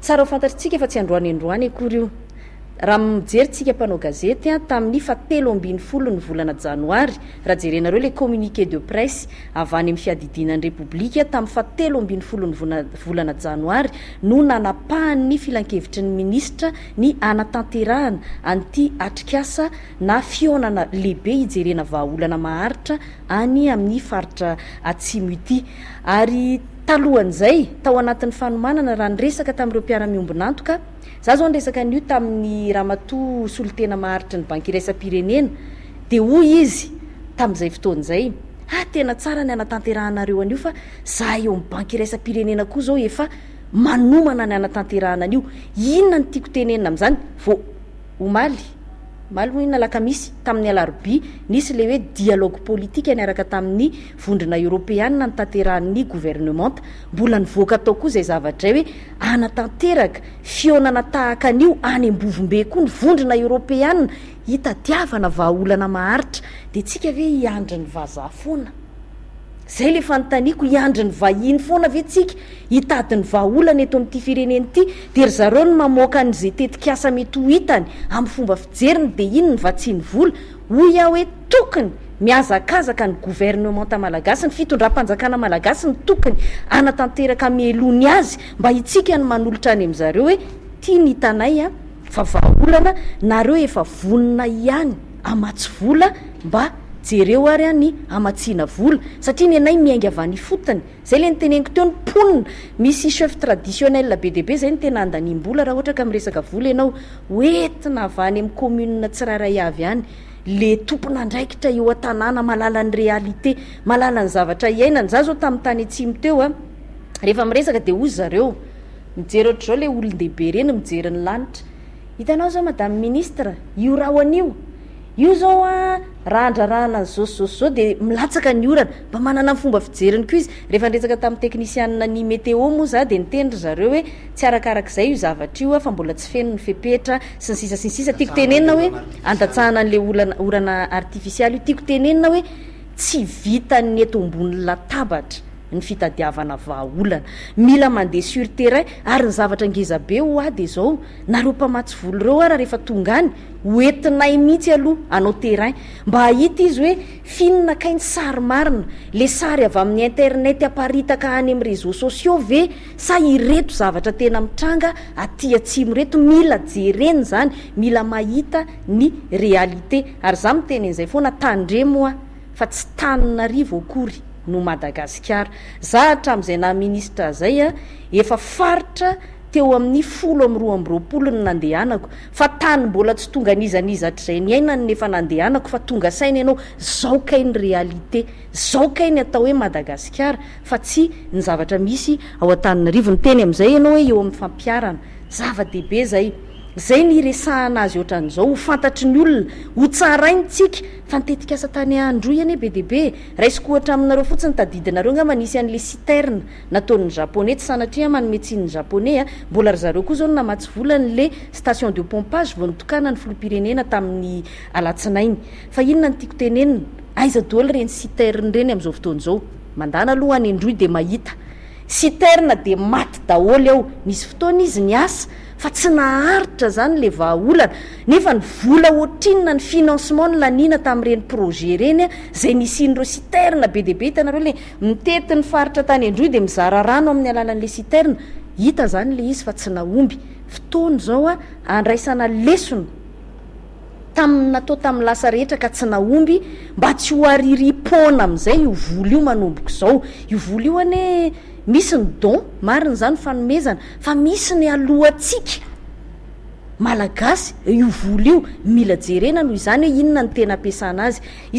Tsara ho fantatr'tsika fa tsy androany androany akory io. Raha mijery tsika mpanao gazety an, tamin'ny fa telo ambin'ny folo ny volana janoary, raha jerenareo ilay communiqué de presse avy any amin'ny fiadidiana ny Repoblika tamin'ny fa telo ambin'ny folo ny volana janoary no nanapahan'ny filankevitry ny minisitra ny hanatanterahana an'ity atrikasa na fihaonana lehibe hijerena vahaolana maharitra any amin'ny faritra atsimo ity ary Talohan'izay, tao anatin'ny fanomanana, raha niresaka tamin'ireo mpiara-miombon'antoka, za zao niresaka an'io tamin'ny ramatoa solotena maharitry ny Banky Iraisam-pirenena, dia hoy izy tamin'izay fotoana izay, ah, tena tsara ny hanatanterahanareo an'io fa za eo amin'ny Banky Iraisam-pirenena koa zao efa manomana ny hanatanterahana an'io. Inona no tiako tenenina amin'izany? Vao. Omaly, omaly hoy aho na alakamisy, tamin'ny alarobia, nisy ilay hoe dialogue politika niaraka tamin'ny vondrona eoropeanina notanterahin'ny governemanta. Mbola nivoaka tao koa izay zavatra izay hoe hanatanteraka fihaonana tahaka an'io any Ambovombe koa ny vondrona eoropeanina hitadiavana vahaolana maharitra. Dia tsika ve hiandry ny vazaha foana? Zay le fanontaniako, hiandry ny vahiny foana ve tsika hitady ny vahaolana eto amin'ity firenena ity dia ry zareo no mamoaka an'izay tetikasa mety ho hitany amin'ny fomba fijeriny dia inona va tsy ny vola? Hoy aho hoe tokony mihazakazaka ny gouvernementa malagasy, ny fitondram-panjakana malagasy no tokony hanatanteraka mialoha ny azy mba hitsika ny manolotra any amin'zareo hoe ity ny hitanay an! Fa vahaolana nareo efa vonona ihany amatsy vola mba jereo ary an ny amatsiana vola satria ny anay miainga avy any ifotony zay le niteneniko teo ny mponina misy chef traditionnel be dia be zay no tena andaniam-bola raha ohatra ka miresaka vola ianao ho entina avy any am commune tsirairay avy any le tompon'andraikitra eo an-tanàna mahalala ny réalité mahalala ny zavatra iainana za zao tam tany atsimo teo a rehefa miresaka dia hoy zareo Mijery ohatr'izao le olon-dehibe ireny mijery ny lanitra. Hitanao zao madame ministre, io rahona io, io zao an raha handrarahana an'izao sy zao sy zao de milatsaka ny orana. Mba manana ny fomba fijeriny koa izy. Rehefa niresaka tamin'ny teknisianina ny meteo moa za de niteny ry zareo hoe tsy arakarak'izay io zavatra io fa mbola tsy feno ny fepetra sy ny sisa sy ny sisa. Tiako tenenina hoe andatsahana an'le olana orana artifisialy io. Tiako tenenina hoe. Tsy vitan'ny eto ambony latabatra ny fitadiavana vahaolana. Mila mandeha sur terrain ary ny zavatra ngeza be ho'ahy dia izao, nareo mpamatsy vola ireo ara rehefa tonga any, hoentinay mihitsy aloha hanao terrain mba hahita izy hoe finona kay ny sary marina, le sary avy amin'ny internet aparitaka any amin'ny réseaux sociaux ve sa ireto zavatra tena mitranga aty atsimo ireto, mila jerena izany, mila mahita ny réalité ary za miteny an'izay foana tandremo a fa tsy taninarivo akory no Madagasikara za hatram'izay naha ministre zay a efa faritra teo amin'ny folo amby roa amby roapolo ny nandehanako fa tany mbola tsy tonga n'iza n'iza hatrizay niainany ny efa nandehanako fa tonga saina ianao zao kay ny réalité zao kay ny atao hoe Madagasikara fa tsy ny zavatra misy ao Antananarivo niteny am'izay ianao hoe eo amin'ny fampiharana zava-dehibe zay izay ny hiresahana azy ohatran'izao, ho fantatry ny olona, ho tsaraintsika, fa ny tetikasa tany Androy anie be dia be e! Raisiko ohatra aminareo fotsiny, tadidinareo angamba nisy an'ilay citerne nataon'ny Japoney, tsy sanatria manome tsiny ny Japoney a! Mbola ry zareo koa izao no namatsy vola an'ilay station de pompage vao nitokana ny filoham-pirenena tamin'ny alatsinainy. Fa inona no tiako tenenina, aiza doly ireny citerne ireny amin'izao fotoana izao? Mandàna aloha any Androy dia mahita. Citerne dia maty daholo ao, nisy fotoana izy niasa, fa tsy naharitra izany ilay vahaolana, nefa ny vola ohatrinona ny financement nilaniana tamin'ireny projet ireny izay nisian'ireo citerne be dia be, hitanareo ilay mitety ny faritra tany an-drohy dia mizara rano amin'ny alalan'ilay citerne, hita izany ilay izy fa tsy nahomby, fotoana izao handraisana lesona tamin'ny natao tamin'ny lasa rehetra ka tsy nahomby mba tsy ho aririam-poana amin'izay io vola io manomboka izao, io vola io anie. Misy ny don, marina izany, fanomezana, fa misy ny alohantsika Malagasy, io vola io, mila jerena noho izany hoe inona no tena ampiasana azy.